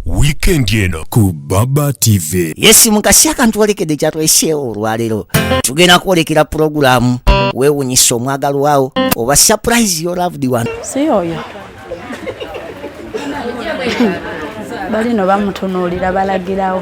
wiikendi eno ku baba tv yesi mukasi akantu olekedde kyatweseewo olwaleero tugenda kwolekera pulogulaamu weewunyisa omwagalwawo oba surprise your loved one si oyo balino bamutunuulira balagirawo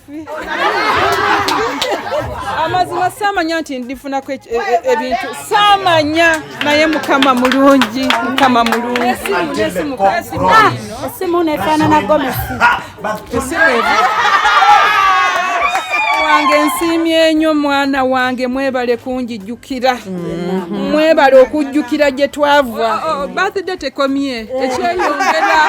buffi amazima saamanya nti ndifunako e- e- ebintu saamanya naye mukama mulungi mukama mulungi esimu nefaanana gomesi wange nsiimye nnyo mwana wange mwebale kunjijukira mwebale okujjukira gye twava birthday tekomye ekyeyongera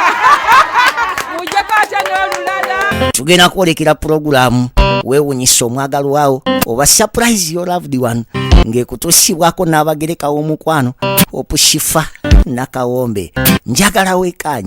mujjeko atya n'olulala tugenda kwolekera pulogulaamu weewunyisa omwagalwawo oba surprise your loved one ng'ekutuusibwako n'abagerekawo omukwano opushifa nakawombe njagala wekaanyi